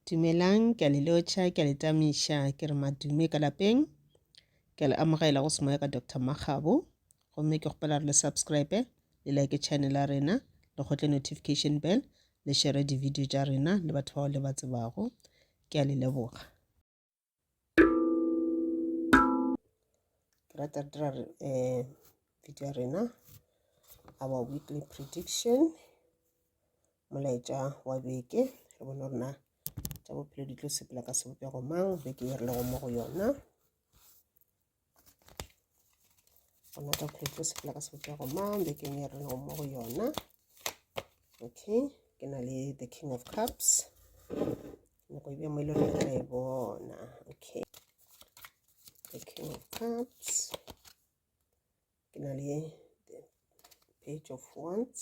Dumelang, ke a le lotšha, ke a le tamiša, ke re madume ka lapeng. Ke a le amogela go semoya ka Doctor Makgabo. Gomme ke kgopela re le subscribe, le like channel ya rena, le kgotle notification bell, le share di-video tša rena le batho bao le ba tsebago. Ke a le leboga. rata re dira um video ya rena our weekly prediction molaetša wa beke re bone gore na tša bophelo di tlo sepela ka sebopego mang beke e rilego mo go yona gona chocolate o sepela ka sebopša go mang bekeng ya rena mo go yona okay ke na le the king of cups nako e bjamo e le gore e bona okay the king of cups ke na le the page of wands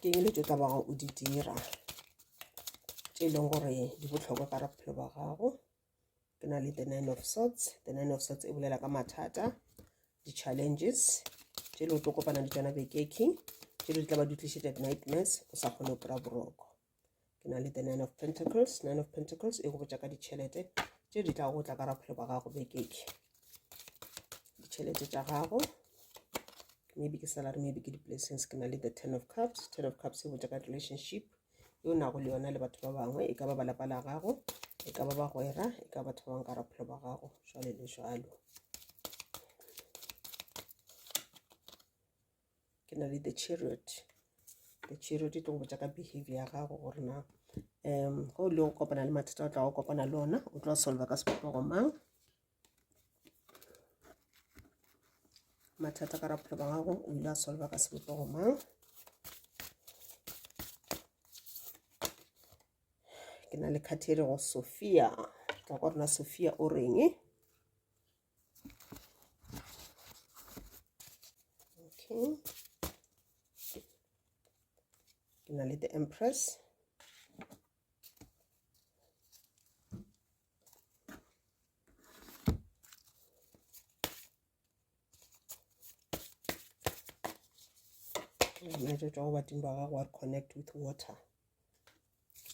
ke eng le tšo tla bago o di dira tše e leng gore di botlhokwa ka ra bophelo ba gago ke na le the nine of sorts the nine of sorts e bolela ka mathata di-challenges tše le o tlo kopana le tsona bekeking tše le di tla ba di tlišetša di-nightmares o sa kgone go kry-a boroko ke na le the nine of pentacles nine of pentacles e go botša ka ditšhelete tše di tla go tla ka raphelo ba gago bekeke ditšhelete tša gago maybe ke salary maybe ke di-blessings ke na le the ten of cups ten of cups e botša ka relationship e o nago le yona le batho ba bangwe e ka ba ba lapa la gago e ka ba bagwera e ka batho ba bangwe ka raphelo ba gago jwale le jwalo ke na le the chariot the chariot e tlo go botsa ka behavior ya gago gore na um go le go kopana le mathata o tla go kopana le ona o tlo solva ka sepopego mang mathata ka raphelo ba gago o ile a solva ka sebopego mang ke na le khathele go sophia tla kwa rona sophia o reng okay ke na le the empress metsotso go badimo ba gago wa connect with water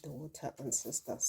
the water ancestors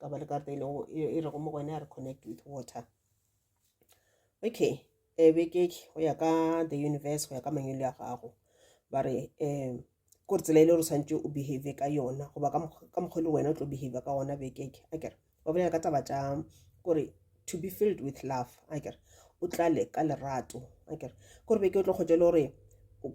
ka ba le karata e lego e rego mo go yone a re connect with water okay e eh, beke go ya ka the universe go ya ka mangwelo ya gago ba re um ko re tsela e le gore tshwanetse o behave ka yona goba ka mokgwa le wena o tlo behave ka gona bekeke a kere ba bolela ka taba tša kore to be filled with love a kere o tlale ka lerato a kere kore beke o tlo kgotse le gore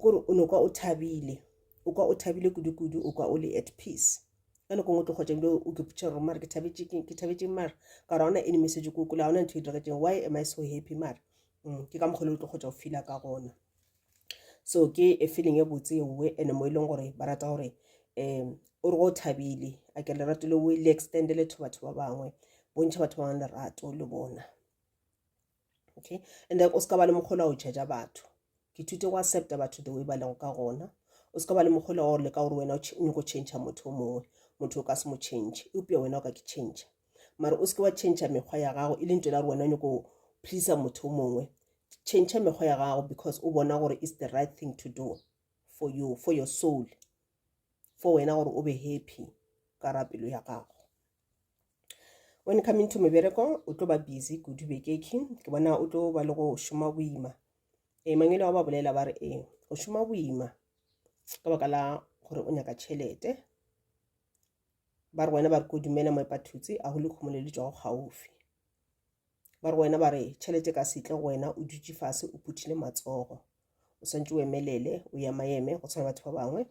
kore o ne kwa o thabile o kwa o thabile kudu-kudu o kwa o le at peace ka nako ngwe tlo kgotsa ebile o ke putšha gore mare ke thabetšeng mare ka gore ga ona enemesetso ko kole ga ona ntho e diregetseng why am i so happy mare mm, ke ka mokgole o tlo kgotsa o fila ka gona so ke e feeling e botse ewe and mo e leng gore ba rata gore um o re go o thabile a ke lerato le o le extendele to batho ba bangwe bontšha batho ba bangwe lerato le bona okay and then o se ka ba le mokgola o judge batho ke thute go accepta batho the way ba lego ka gona o se ka ba le mokgola wa gore le ka gore wena o nyako change motho o mongwe motho o ka se mo change eupša wena o ka ke change mara o se ke wa change mekgwa ya gago e leng tsela gore wena o nyako please motho o mongwe change mekgwa ya gago because o bona gore is the right thing to do for you for your soul for wena gore o be happy ka ra pelo ya gago when coming to mebereko o tlo ba busy kudu bekeking ke bona o tlo ba le go šoma boima ee mangwele wa ba bolela ba re ee go šoma boima ka baka la gore o nyaka tšhelete ba re wena ba re ko dumela moepathutse a go le kgomo le le tšwago gaufi ba re wena ba re tšhelete ka setle go wena o dutše fase o phuthile matsogo o swantse o emelele o ema eme go tshwana batho ba bangwe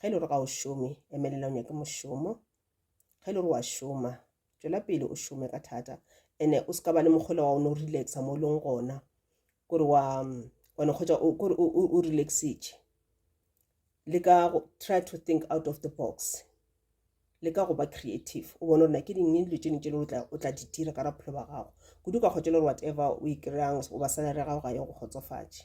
ge e le gore ga o šome emelela o nyake mošomo ge le re wa šoma tšwela pele o šome ka thata ene o se ka ba le mokgwela wa one o relaxa mo e leng gona kore wa one kgotsa kore o relaxitše le ka try to think out of the box le ka go ba creative o bone gore na ke dingwe dilo tšene tšele o tla di dira ka raphelo ba gago kudu ka kgotse le gore whatever o e kry-ang goba salary ya gago ga ye go kgotsofatše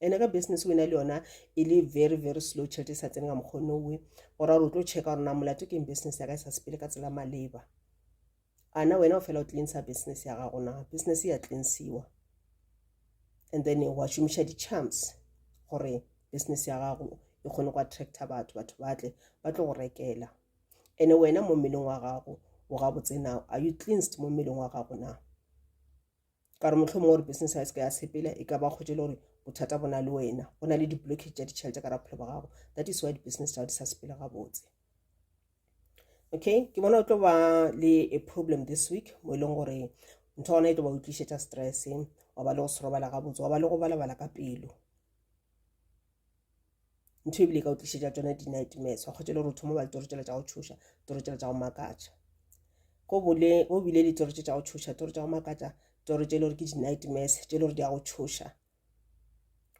ene ka business wena le yona e le very very slow tšhelete e sa tsene ka mokgwa o nowe go ra gore o tlo checka gore na molato keng business ya ka e sa sepele ka tsela maleba ana wena o fela o cleansa business ya gago na business ya cleansiwa and then wa šomiša di-charms gore business ya gago e kgone go attracta batho batho ba tle ba tlo go rekela ene wena mo mmeleng wa gago o gabotse now are you cleansed mo mmeleng wa gago na ka re motlhomongwe gore business ya seka ya sepela e ka ba kgotse le gore bothata bo na le wena go na le di-blockage tša ditšhelete ka ra bophelo ba gago that is why di-business tsa di sa sepela gabotse okay ke bona o tlo ba le a problem this week mo e leng gore ntho gona e tlo ba utlišetša stress wa ba le go serobala gabotse wa ba le go balabala ka pelo ntho ebile e ka o tlišetša tsona di-nightmares wa kgotsa le gore o thoma ba le toro tsela tša go tšhoša toro tsela tša go makatša go bole go bile le toro tse tša go tšhoša toro tša go makatša toro tše e le gore ke di-nightmares tše e le gore di ya go tšhoša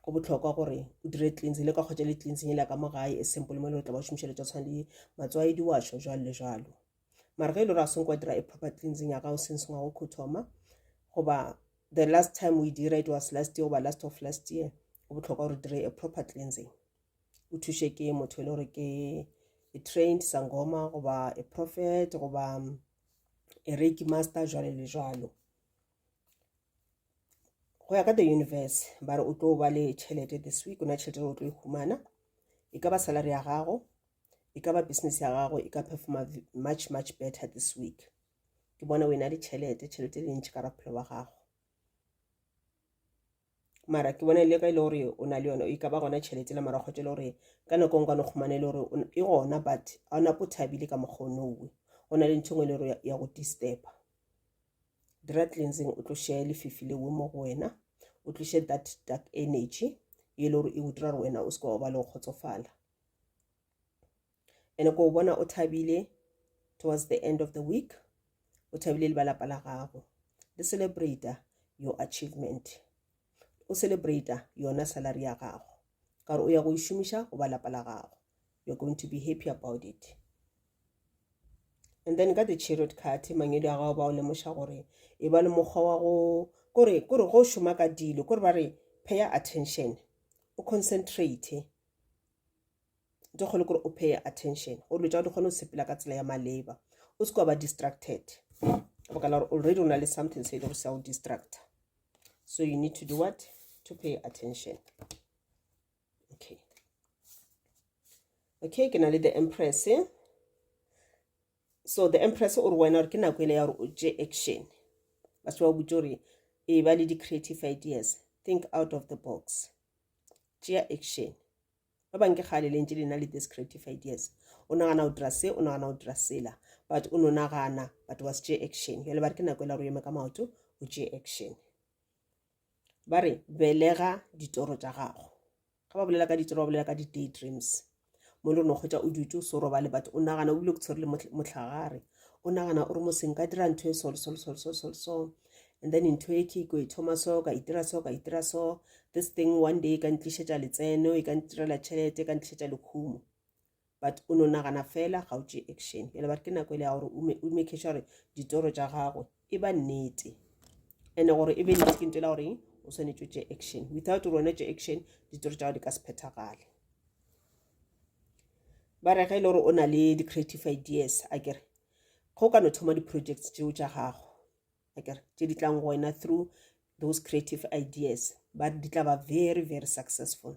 go bohlokwa gore o dire cleansing le ka kgotsa le cleansing e la ka mo gae e simple mo e le gore tla ba o šomišeletša tshwane le matsoaedi wa šo jalo le jalo mara ge e le gore a senko dira e proper cleansing ya gago since ngwago kho thoma goba the last time we dira it was last year goba last of last year go botlhokwa gore dire a proper cleansing o thuše ke motho e le gore ke a trained sangoma goba a prophet goba um, a reiki master jwale le jwalo go ya ka the universe ba re o tlo ba le tšhelete this week o na tšhelete o tlo e humana e ka ba salary ya gago e ka ba business ya gago e ka performa much much better this week ke bona o e na le tšhelete tšhelete e le ntšhi ka raphelo wa gago mara ke bona e le ka e le gore o na le yone e ka ba gona tšhelete la mara kgotse e le gore ka nako e ngwane kgomane e le gore e gona but ga ona po thabile ka mokgwa o nowe go na le ntho engwe e le gore ya go disturba dira cleansing o tloše lefifi lewe mo go wena o tloše that dark energy e le gore e o dira gore wena o se ka wa ba le go kgotsofala ene ko bona o thabile towards the end of the week o thabile le ba lapa la gago le celebrate your achievement o celebrate yona salary ya gago ka gore o ya go e šomiša go ba lapa la gago you're going to be happy about it and then ka the chariot card mangwedi a gago ba o lemoša gore e ba le mokgwa wa go kore kore go šoma ka dilo kore ba re pay attention o concentrate di kgone gore o pay attention gore dilo tsa di kgone go sepela ka tsela ya maleba o se ka ba distracted baka la gore already o na le something se e le go sa o distracta so you need to do what to pay attention okay okay ke na le the empress eh? so the empress o re wena gore ke nako ele ya gore o tše action ba se ba butse gore e ba le di-creative ideas think out of the box tšea action ba bang ke kgale lentse le na le this creative ideas o nagana o dira se o nagana o dira sela but o no nagana batho ba se tšee action jale ba re ke nako e la gore o eme ka maoto o tšee action ba re belega ditoro tša gago ga ba bolela ka ditoro ba bolela ka di-day dreams mo le no kgwetsa o dutse o se roba le batho o nagana o bile ke tshwere le motlhagare o nagana o re mo seng ka dira ntho e so so so so so so and then ntho e ke ko e thoma so ka itira so ka itira so this thing one day e ka ntlišetša letseno e ka ntirela tšhelete e ka ntlišetša lekhumo but o no nagana fela ga o tše action bjale ba re ke nako e le ya gore o make sure gore ditoro tša gago e ba nnete and gore e be nnete ke nto e la goreng o swanetše o tše action without gore wena tše action ditoro tša gago di ka se phethagale ba re ge e le gore o na le di-creative ideas a kere ge o ka no thoma di-projects tšeo tša gago a kere tše di tlang go wena through those creative ideas ba di tla ba very very successful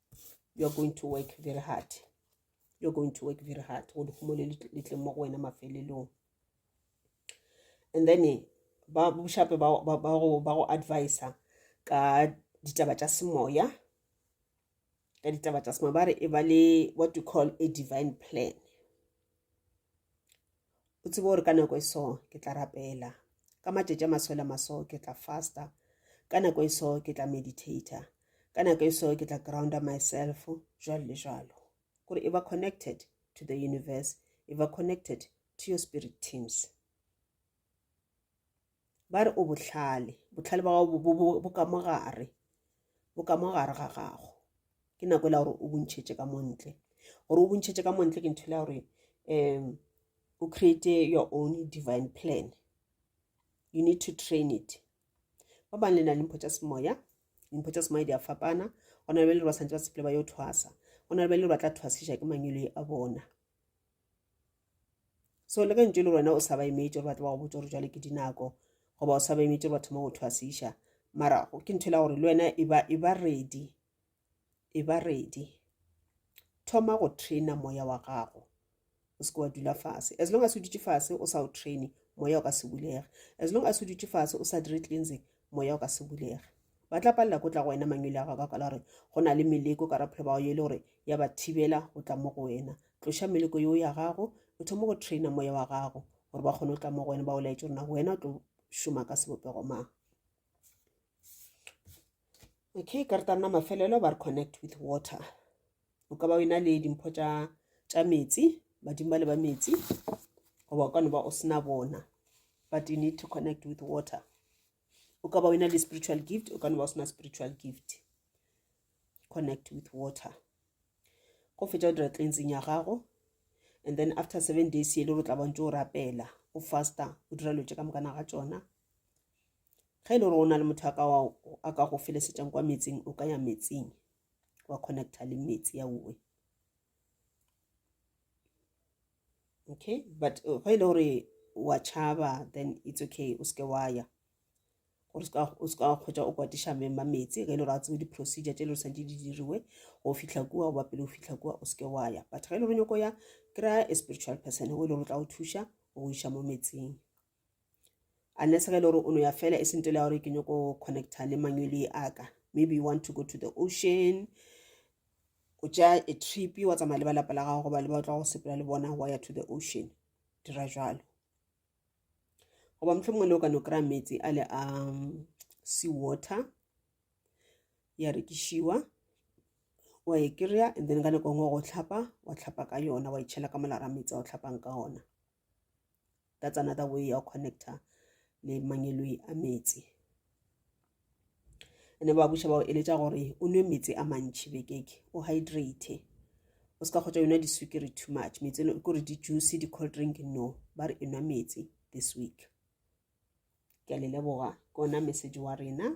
you are going to work very hard you are going to work very hard go lehumo le le tleng mo go wena mafelelong and then eh, ba boshape ba ba- ba go ba go advisa ka ditaba tša semoya ka ditaba tša semoya ba re e ba le what we call a divine plan O tsebe gore ka nako e so ke tla rapela. Ka matšatši a maswela maso ke tla fasta. Ka nako e so ke tla meditator. Ka nako e so ke tla grounder myself, jwalo le jwalo. Kore e ba connected to the universe, e ba connected to your spirit teams. ba re o bohlale bohlale ba gago bo ka mo gare bo ka mo gare ga gago ke nako e la gore o bontšhetše ka montle gore o bontšhetše ka montle ke ntho le ya gore um o create your own divine plan you need to train it ba bang le na le mpho tša semoya dimpho tša semoya di a fapana go na le ba le ba santse ba sepele ba yo thwasa go na le ba le ba tla thwasiša ke mangwele a bona so le ge ntse le wena o sa ba emetse gore ba tlo ba go botsa gore jale ke dinako goba o sa ba emetse gore ba thoma go thwasiša mara ke ntho e la gore le wena e ba e ready e ba ready thoma go traina moya wa gago o seke wa dula fase as long as o dutše fase o sa o traine moya o ka se bulege as long as o dutše fase o sa dire cleansing moya o ka se bulege ba tla palela ko tla go wena mangwele a gago ka kwala gore go na le meleko ka raphelo ba go e le gore ya ba thibela go tla mo go wena tloša meleko yeo ya gago o thoma go traina moya wa gago gore ba kgone go tla mo go wena ba o laetse gore na wena o tlo šoma ka sebopego mang okay ka re tanna mafelelo ba re connect with water o ka ba o ena le dimpho tša tša metsi badimo ba le ba metsi goba o ka no ba o sena bona but you need to connect with water o ka ba o ena le spiritual gift o ka no ba o sena spiritual gift connect with water go fetša o dira cleansing ya gago and then after seven days yele o tla bantse o rapela o fasta o dira lotse ka mokana ga tsona ge e le gore o na le motho a ka go felesetšang kwa metsing o ka ya metsing wa connecta le meetse ya uwe okay but uh, ge e le gore wa tšhaba then it's okay o seke wa ya gore o seka wa kgwetsa o kwatiša mema meetse ge e le gore a tsebe di-procedure tse e le gore santse di diriwe go fitlha kua goba pele go fitlha kua o seke wa ya but ge e le gore nyako ya kry-a a spiritual person o e le gore o tla go thuša go iša mo metseng unless ge e le gore o no ya fela e sentele ya gore ke nyoko connecta le mangwele a ka maybe you want to go to the ocean o tša a trip wa tsamaya le ba lapa la gago goba le ba tla go sepela le bona wa ya to the ocean dira jalo goba motlho mongwe le o ka no kry-a metsi a le a um, sea water ya rekišiwa wa e kry-a and then ka nako ngwe go tlhapa wa tlhapa ka yona wa itšhela e ka molara metsi a o tlhapang ka ona that's another way ya connecta le mangeloi a metsi ene ba buša bao eletša gore o nwe metsi a mantšhi bekeke o hydrate o se ka kgotsa yona disukiri too much metsi e kore di-juice di-cold drink no ba re e nwa metsi this week ke a le leboga ke ona message wa rena